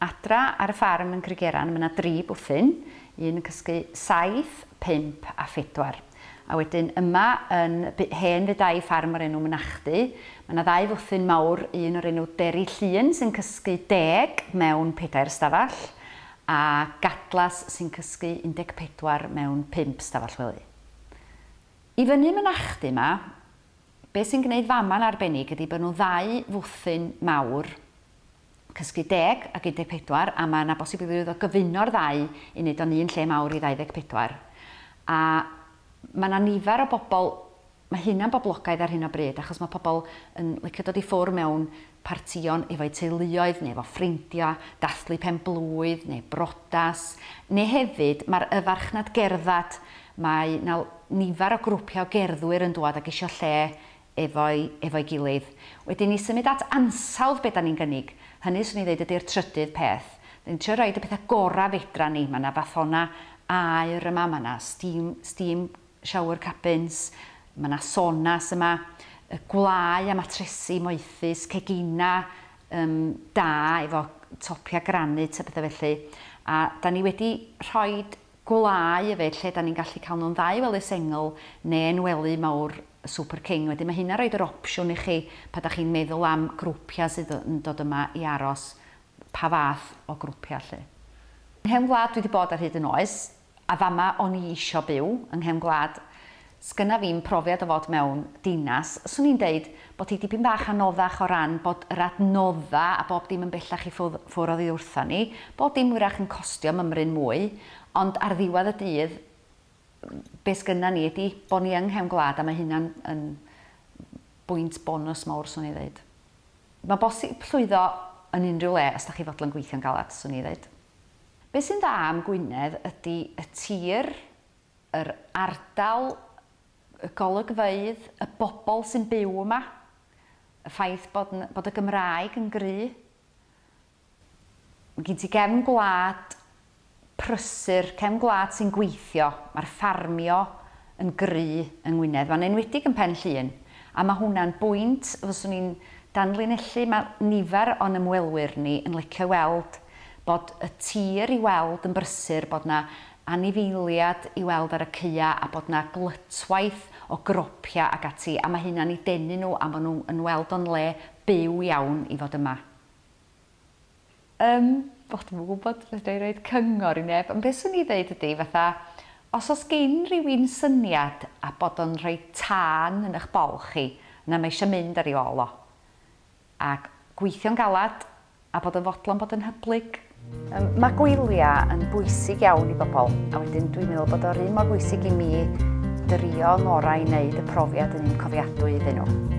Adra ar y ffarm yn Crygeran mae 'na dri bwthyn, un yn cysgu saith, pump a phedwar. A wedyn yma yn y byd hen fe dai ffarm o'r enw Mynachdy, mae 'na ddau fwthyn mawr, un o'r enw Deri Llŷn sy'n cysgu deg mewn pedair ystafell, a Gadlas sy'n cysgu un deg pedwar mewn pump stafell wely. I fyny Mynachdy 'ma, be' sy'n gneud fama'n arbennig ydi bo' nhw ddau fwthyn mawr, Cysgu Deg ac Un Deg Pedwar a mae yna bosibilrwydd o gyfuno'r ddau i wneud o'n un lle mawr i Ddau Ddeg Pedwar. A mae yna nifer o bobl, mae hynna'n boblogaidd ar hyn o bryd achos mae pobl yn licio dod i ffwrdd mewn partïon efo'u teuluoedd neu efo ffrindio, dathlu pen-blwydd neu briodas, neu hefyd mae'r y farchnad gerdded, mae 'na nifer o grwpiau o gerddwyr yn dŵad ac isio lle efo'i efo'i gilydd. Wedyn i symud at ansawdd be' 'dan ni'n gynnig, hynny 'swn i'n ddeud ydi'r trydydd peth. 'Dan ni'n trio roid y petha gora' fedran ni, ma' 'na fathona aer yma, ma' 'na steam steam shower cabins, ma' 'na sonas yma, yy gwlâu a matresi moethus, cegina yym da efo topia granit a petha felly, a 'dan ni wedi rhoid gwlâu yfed lle dan ni'n gallu cael nhw'n dda i wely sengl neu yn wely mawr Super King. Wedyn mae hynna'n rhoid yr opsiwn i chi pan dach chi'n meddwl am grwpiau sydd yn dod yma i aros, pa fath o grwpiau 'lly. Nghefn gwlad dwi 'di bod ar hyd yn oes, a fama o'n i isio byw, yng nghefn gwlad. Sgynna fi'm profiad o fod mewn dinas, swn i'n deud bod hi dipyn bach anoddach o ran bod yr adnodda a bob dim yn bellach i ffwrdd ffwr oddi wrtha ni, bob dim wyrach yn costio mymryn mwy, ond ar ddiwedd y dydd be sgynna ni ydi bo ni yng nghefn gwlad a mae hynna'n yn bwynt bonws mowr swn i'n ddeud. Mae'n bosib llwyddo yn unrhyw le os da chi fodlon gweithio'n galad swn i'n ddeud. Be sy'n dda am Gwynedd ydi y tir, yr ardal, y golygfeydd, y bobl sy'n byw yma, y ffaith bod n- bod y Gymraeg yn gry'. Ma' gin ti gefn gwlad prysur, cefn gwlad sy'n gweithio, ma'r ffarmio yn gry' yng Ngwynedd, ma'n enwedig yn Pen Llŷn, a ma' hwnna'n bwynt fyswn i'n danlinellu, ma' nifer o'n ymwelwyr ni yn licio weld bod y tir i weld yn brysur, bod 'na anifeiliad i weld ar y caea a bod 'na glytwaith o gropia ac ati a ma' hynna'n i denu nhw a ma' nhw yn weld o'n le byw iawn i fod yma. Yym o dwi'm yn gwybod fedra i roid cyngor i neb ond be swn i ddeud ydi fatha os o's gin rywun syniad a bod o'n rhoi tân yn ych bol chi na mae isio mynd ar ei ôl o A gweithio'n galed, a bod yn fodlon bod yn hyblyg. Yym, ma' gwylia yn bwysig iawn i bobl, a wedyn dwi'n meddwl bod o'r un mor bwysig i mi drio 'y ngorau i wneud y profiad yn un cofiadwy iddyn nhw.